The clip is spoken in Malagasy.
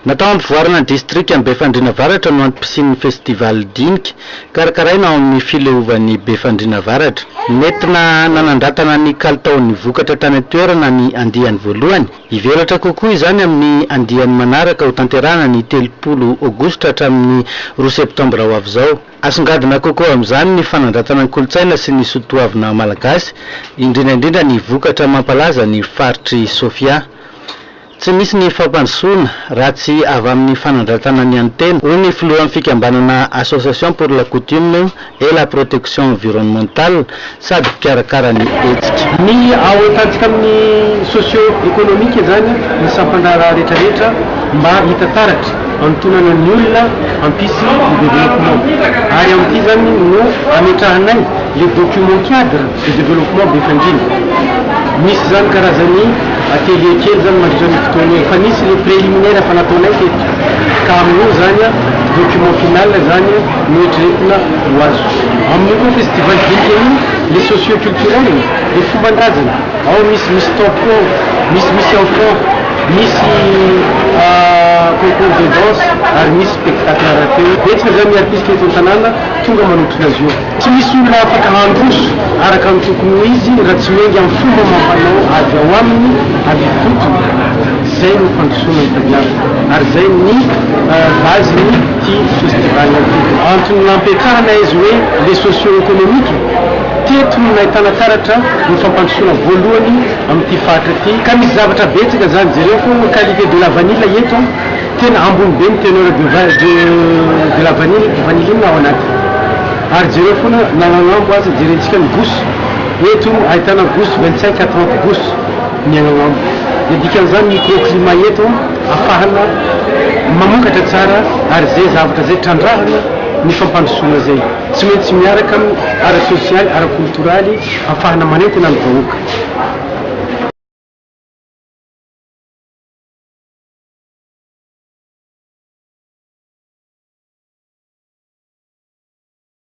Natao hampivoarana ny distrika Befandriana Avaratra no antom-pisian'ny Festival Dinika, karakaraina ao amin'ny Fileovan'i Befandriana Avaratra. Nentina nanandratana ny kalitaon'ny vokatra tany an-toerana ny andiany voalohany. Hivelatra kokoa izany amin'ny andiany manaraka hotanterahana ny telopolo Aogositra hatramin'ny roa Septambra ho avy izao. Asongadina kokoa amin'izany ny fanandratana ny kolontsaina sy ny soa toavina malagasy, indrindra indrindra ny vokatra mampalaza ny faritr'i Sofia. Tsy misy ny fampandrosoana raha tsy avy amin'ny fanandratana ny an'ny tena, hoy ny filohan'ny fikambanana Association pour la coutume et la protection environnementale, sady mpikarakara ny hetsika. Ny ao an-tantsika amin'ny socio economique izany ny sampan-draharaha rehetra rehetra mba hita taratra hanontonana ny olona hampisy ny développement ary amin'ity izany no hametrahanay le document cadre de développement be fandriana misy izany karazan'ny atelier kely izany mandritra ny fotoana efa nisy le préliminaire efa nataonay teto ka amin'io izany document final izany Noeritreretina ho azo amin'ny koa festival dinika io le socio culturel de fomban-drazana ao misy misy tempo ao misy misy enfants misy concours de danse ary misy spectacle rap-eo betsaka zany ny artiste eto an-tanàna tonga manotrona azy io tsy misy olona afaka handroso araka ny tokony ho izy raha tsy miainga amin'ny fomba amam-panao avy ao aminy avy ifotony zay no fandrosoana itadiavina ary zay ny base-ny. ity festival ity. Antony nampiakarana izy hoe les socio-economiques teto no nahitana taratra ny fampandrosoana voalohany amin'ity faritra ity ka misy zavatra betsaka zany jereo fô ny qualité de la vanille eto tena ambony be ny teneur de de la vanille vanilline ao anaty ary jereo fona na agnambo aza jerentsika ny gousse eto ahitana gousse vingt cinq à trente gousse miaina ao aminy. Ny dikan'izany microclimat eto afahana mamokatra tsara ary izay zavatra izay trandrahana ny fampandrosoana izay tsy maintsy miaraka amin'ny ara-tsosialy, ara-koltoraly afahana manentana ny vahoaka.